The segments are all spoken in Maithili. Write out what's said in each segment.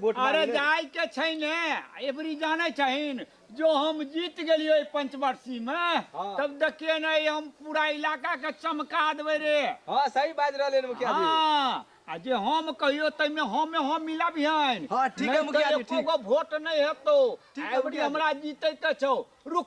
वोट अरे मांगले। जाय के छै ने एबरी जाने छहिन जो हम जीत गेलियो ई पंचवर्षी में हाँ। तब देखिए ने ई हम पूरा इलाका के चमका देबे रे हाँ सही बाज रहले मुखिया जी हाँ आ जे हम कहियो तैमे हमे हम मिला बिहान हाँ, ठीक है, मुखिया जी, ठीक। को वोट नहीं हेतो ठीक है, एबरी मुखिया जी। हमरा जीते के छौ रुक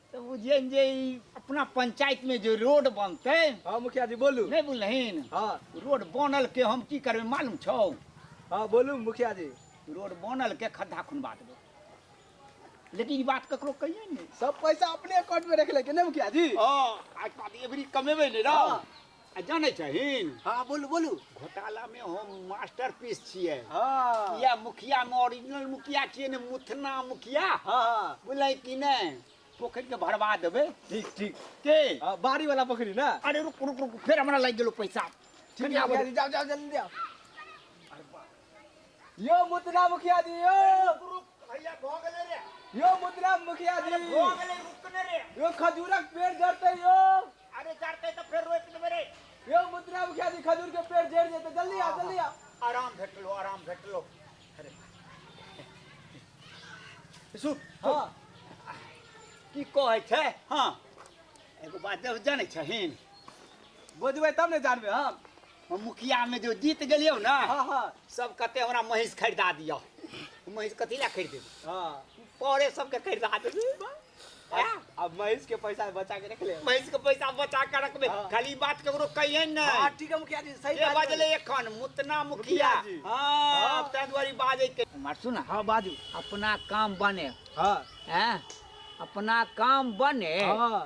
तऽ बुझियन जे ई अपना पंचायत में जो रोड बनते हाँ मुखिया जी बोलू नहीं बुझलहिन हाँ रोड बनल के हम की करबे मालूम छौ हाँ बोलू मुखिया जी रोड बनल के खड्डा खुनवा देबो लेकिन ई बात ककरो कहिए ने सब पैसा अपने अकाउंट में रख लेके नहीं मुखिया जी हाँ आज बात एवरी कमेबे ने रौ हाँ। आ जानै छहीन हाँ बोलू बोलू घोटाला में हम मास्टर पीस छियै हाँ या मुखिया में ओरिजिनल मुखिया छियै ने मुथना मुखिया हाँ बोलै कि नहीं पोखरि के भरवा देबै ठीक ठीक के हाँ, बारी वाला पोखरी ना अरे रुक रुक रुक फिर हमरा लागि गेलो पैसा ठीक है मुखिया जी, जाओ जाओ जल्दी जाओ यो मुतना मुखिया जी यो भैया भऽ गेलै रे यो मुतना मुखिया जी भऽ गेलै रुक ने रे यो खजूरक पेड़ जड़ते यो अरे चढ़ते तो फिर रोक दे मेरे यो मुद्रा मुखिया जी खजूर के पेड़ जेड़ जेते जल्दी आ जल्दी आ आराम घट लो आराम घट लो अरे सुन हां की कहै छै हां एगो बात जब जानै छहिन बुझबै तब ने जानबै हम हम मुखिया में जो जीत गेलियो ना हां हां सब कते हमरा महींस खरीदा दियो महींस कथी ला खरीद देबो हां पौड़े सबके खरीदा देबो अब महेश के पैसा बचा के रख ले महेश के पैसा बचा के रखबे हाँ। खाली बात केकरो कहिए न हां ठीक है मुखिया जी सही बात बजले एखन मुतना मुखिया हां तै दुआरी बाजे के मार सुन हां बाजू अपना काम बने हां हैं अपना काम बने हां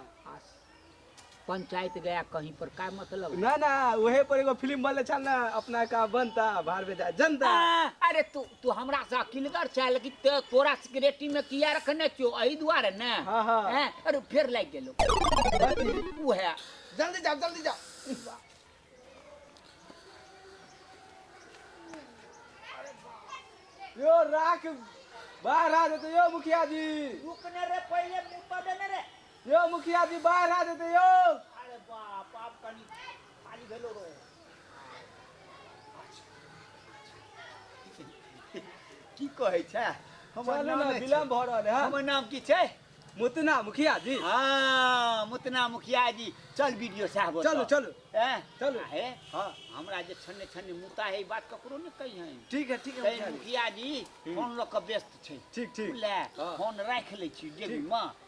पंचायत गया कहीं पर का मतलब ना ना वही पर एगो फिल्म बनले छल ना अपना का बनता बाहर में जा जनता आ, अरे तू तू हमरा से अकिलगर छै लेकिन ते तोरा सिगरेटी में किया रखने छियो एही दुआरे ने हाँ, हाँ। हैं? अरे फेर लाग गेलो उहे जल्दी जाओ जल्दी जाओ यो राख बाहर आ जाते यो मुखिया जी रुकने रे पहले मुंह पर देने रे यो मुखिया जी बाहर आ जाते यो अरे बाप आप कनी खाली भेलो रो की कहे छे हमर नाम विलम्ब भ रहल है हमर नाम की छे मुतना मुखिया जी हाँ मुतना मुखिया जी चल वीडियो साहब चलो चलो ए चलो हे हाँ हमरा जे छन्ने छन्ने मुता है बात ककरो ने कही है ठीक है ठीक है मुखिया जी हम्म। फोन ल के व्यस्त छे ठीक ठीक ले हाँ। फोन राख ले छी जेबी में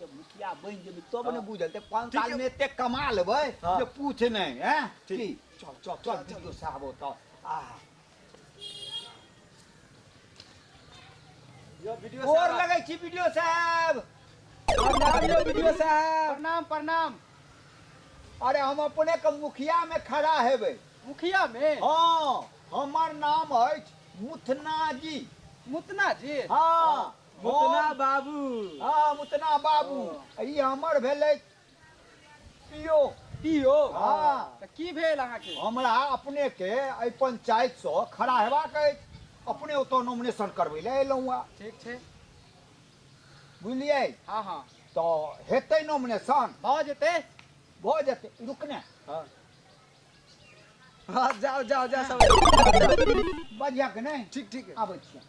जब मुखिया बनि जेबै तब ने बुझल ते पाँच ठीक साल है। में एते कमा लेबै हाँ। जे पूछ नहि हैं ठीक। की? चल चल चल वीडियो साहब ओतऽ आ यो वीडियो गोर साहब लगै छी वीडियो साहब प्रणाम यो वीडियो साहब प्रणाम प्रणाम अरे हम अपने के मुखिया में खड़ा हेबै मुखिया में हाँ हमर नाम अछि मुथना जी मुतना जी हाँ मुतना बाबू हाँ मुतना बाबू ई हमर भेलै पियो पियो हाँ तऽ की भेल अहाँके हमरा अपने के एहि पंचायत से खड़ा हेबाक अछि अपने ओतऽ नॉमिनेशन करबै लए एलहुँ हँ ठीक छै बुझलियै हाँ हाँ तऽ हेतै नॉमिनेशन भऽ जेतै भऽ जेतै रुकने हाँ हँ जाउ जाउ जाउ सब बढ़िया के नै ठीक ठीक आबै छियै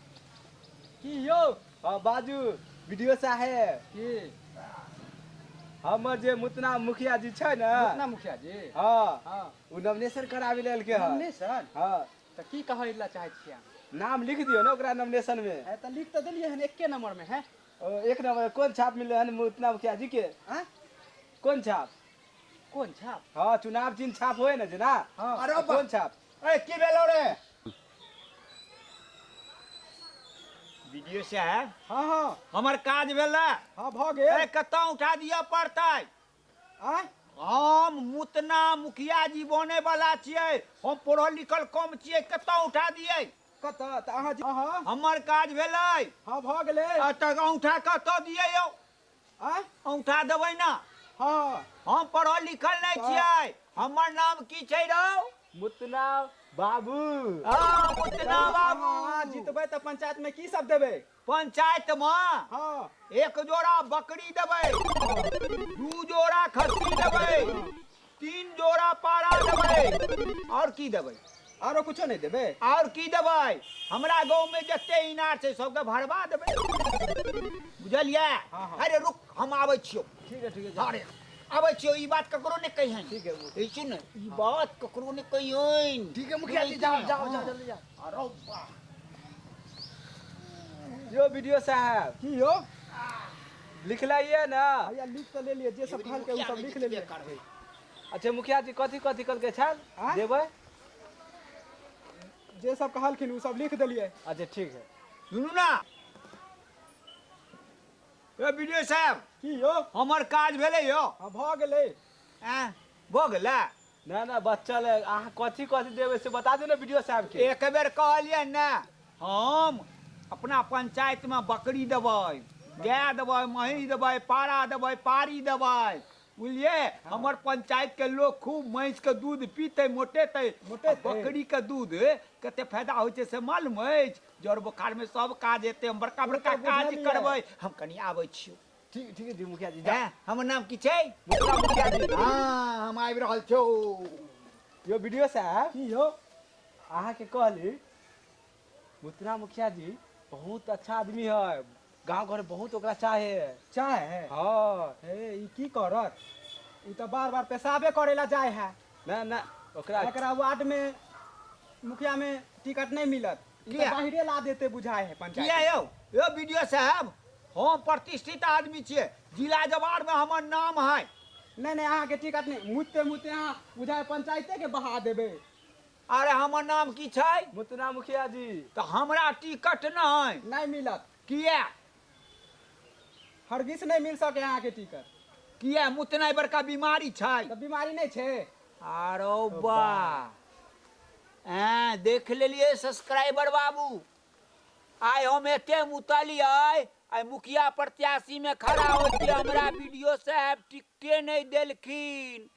की यौ हँ बाजू वीडियो साहेब की हमर जे मुतना मुखिया जी छै ने अपना मुखिया जी हँ हँ ओ नॉमिनेशन कराबी लेलके हन हमने सर हँ तऽ की कहै लए चाहै छियै अहाँ? नाम लिख दियौ ने ओकरा नॉमिनेशन मे ए, तऽ लिख तऽ देलियै हन एके नंबर में है ओ, एक नंबर कोन छाप मिललै हन मुतना मुखिया जी के आँय? कोन छाप कोन छाप हँ चुनाव चिन्ह छाप होए ने जेना हँ। अरे तऽ बा- कोन छाप ए की भेलो रे वीडियो साहब हँ हँ हमर काज भेला हँ भऽ ए गेल कतऽ उठा दिअ पड़तै आँय हम मुतना मुखिया जी बने वाला छियै हम पढ़ल लिखल कम छियै कतऽ उठा दियै कतऽ तऽ अहाँ जे- हँ हँ हमर काज भेलै हँ भऽ गेलै आ तऽ औंठा कतऽ दियै यौ आँय औंठा देबै ने हँ हम पढ़ल लिखल नहि छियै हमर नाम की छै रौ मुतना बाबू हँ मुतना बाबू अहाँ जीतबै तऽ पंचायत में की सब देबै पंचायत मे हँ एक जोड़ा बकरी देबै दू जोड़ा खस्सी देबै तीन जोड़ा पारा देबै और की देबै आरो कुछो नहीं देबे और की देबै हमरा गांव में जते इनार छै सबके भरवा देबै बुझलियै हाँ, हाँ। अरे रुक हम आबै छियौ ठीक है ठीक है अरे आबै छियौ ई बात ककरो नहि कहिहन ठीक है ई सुन ई बात ककरो नहि कहिहन ठीक है मुखिया जी जाओ जाओ जाओ जल्दी जाओ अरे वाह यो वीडियो साहब की हो लिखलाइए ने भैया लिख तऽ लेलियै जे सब कहलकै ओ सब लिख लेलियै करबै अच्छा मुखिया जी कथी कथी कहलकै छल आँय? देबै जे सब कहलखिन ओ सब लिख देलियै अच्छा ठीक है सुनू ने ए विजय साहब की यौ हमर काज भेलै यौ हँ भऽ गेलै एँ भऽ गेलै ना ना बच्चल है आहा कथी कथी देवे से बता दे ना वीडियो साहब के एक बेर कहलिए ने हम अपना पंचायत में बकरी देवे गाय देवे महीस देवे पारा देवे पारी देवे बुझलिए हमर पंचायत के लोग खूब महीस के दूध पीते मोटेते मोटेते। आ बकरी के दूध कते फायदा होइ छै से मालूम अछि जड़ बोखार में सब काज हेतै हम बड़का बड़का ओ तऽ काज बुझलियै। करबै हम कनी आबै छियौ ठीक ठीक छै मुखिया जी जा हैं? हमर नाम की छै मुखिया मुखिया जी हाँ हम आबि रहल छौ यो वीडियो साहब की हो अहाँ के कहली मुतरा मुखिया जी बहुत अच्छा आदमी है गांव घर में बहुत ओकरा चाहे चाहे है हाँ हे ई की करत ई तऽ बार बार पेशाबे करे ला जाए है ना ना ओकरा एकरा वार्ड में मुखिया में टिकट नहीं मिलत लिअ। बाहरे ला देते बुझाय है पंचायत किया यौ यौ वीडियो साहब हम प्रतिष्ठित आदमी छियै जिला जवार में हमर नाम है नहीं नहीं अहाँ के टिकट नहीं मुते मुते अहाँ बुझाय पंचायते के बहा देबे अरे हमर नाम की छै मुतना मुखिया जी तऽ हमरा टिकट नहि नहीं मिलत किए? हरगिस नहि मिल सकैए अहाँके टिकट। किए? मुतनाइ बड़का बीमारी छै। तऽ बीमारी नहि छै? आरो बा। एँ, देख लेलियै सब्सक्राइबर बाबू। आइ हम एते मुतलियै, आइ मुखिया प्रत्याशी में खड़ा होके हमरा वीडियो साहेब टिकटे नहि देलखिन।